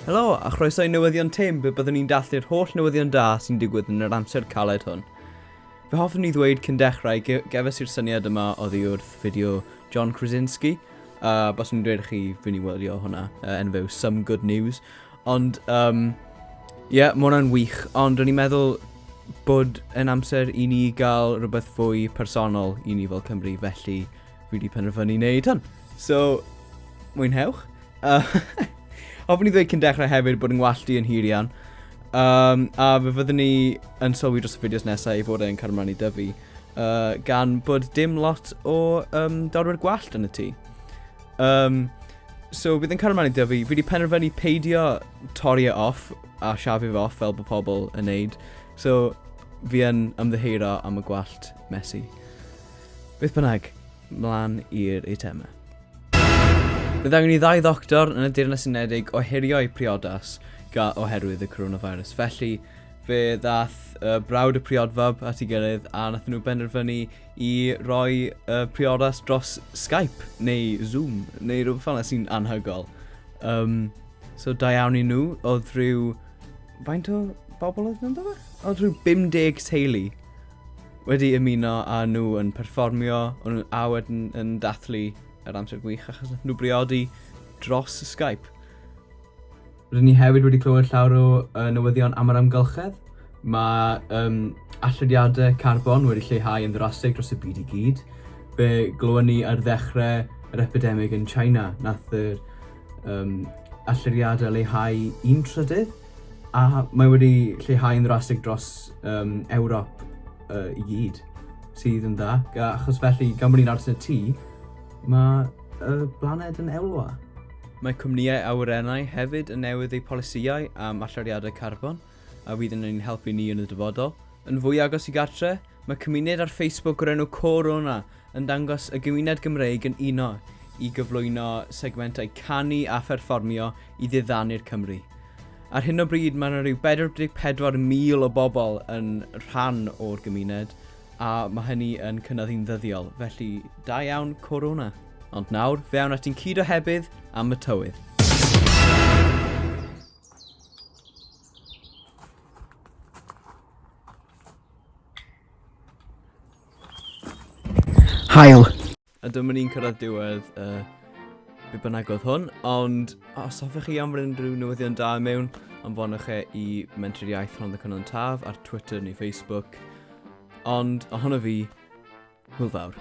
Helo, a chroeso i newyddion Tim, be byddwn ni'n dathlu'r holl newyddion da sy'n digwydd yn yr amser caled hwn. Fe hoffwn ni ddweud cyn dechrau, gefes i'r syniad yma o ddi wrth fideo John Krasinski, a bas nhw'n dweud chi, fi'n i wylio hwnna, uh, enw few Some Good News, Ond, um, ie, yeah, mae hwnna'n wych. Ond o'n i'n meddwl bod yn amser i ni gael rhywbeth fwy personol i ni fel Cymru, felly fi wedi penderfynu wneud hwn. So, mwynhewch. Uh, hoffwn i ddweud cyn dechrau hefyd bod yn ngwallt i yn hir iawn. Um, a fe fyddwn ni yn sylwi dros y fideos nesaf i fod e'n cael ymlaen i dyfu, uh, gan bod dim lot o um, dorwyr gwallt yn y tŷ. Um, so bydd yn cario mlaen i dyfu. Fi wedi penderfynu peidio torri e off a siafu fe off fel bod pobl yn neud. So fi yn ymddeheuro am y gwallt mesi. Beth bynnag, mlaen i'r eitemau. Bydd angen i ddau ddoctor yn y Deyrnas Unedig ohirio'u priodas ga oherwydd y coronavirus. Felly, fe ddath uh, brawd y priodfab at ei gilydd a nath nhw benderfynu i roi uh, priodas dros Skype neu Zoom neu rhywbeth fel yna sy'n anhygol. Um, so da iawn i nhw, oedd rhyw... Faint o bobl oedd nhw'n dod? Oedd rhyw 50 teulu wedi ymuno a nhw yn perfformio a wedyn yn dathlu yr amser gwych achos nhw briodi dros Skype. Rydyn ni hefyd wedi clywed llawr o uh, newyddion am yr amgylchedd. Mae um, allodiadau carbon wedi lleihau yn ddrastig dros y byd i gyd. Fe glywon ni ar ddechrau yr epidemig yn China, nath yr um, allodiadau leihau un trydydd, a mae wedi lleihau yn ddrastig dros um, Ewrop uh, i gyd, sydd yn dda. Achos felly, gan bod ni'n aros yn y tŷ, mae y blaned yn elwa. Mae cwmnïau awyrennau hefyd yn newid eu polisïau am allyriadau carbon, a fydd yn ein helpu ni yn y dyfodol. Yn fwy agos i gartre', mae cymuned ar Facebook o'r enw Co-rona yn dangos y gymuned Gymreig yn uno i gyflwyno segmentau canu a pherfformio i ddiddanu'r Cymry. Ar hyn o bryd mae yna rhyw 44,000 o bobl yn rhan o'r gymuned, A mae hynny yn cynyddu yn ddyddiol, felly da iawn Corona. Ond nawr, fe awn at un cyd ohebydd am y tywydd. Haul. A dyma ni'n cyrraedd diwedd y be bynnag oedd hwn, ond os hoffech chi anfon unrhyw newyddion da mewn, anfonwch e i Mentrau'r Iaith Rhondda Cynon Taf ar Twitter neu Facebook. Ond ohono fi, hwyl fawr.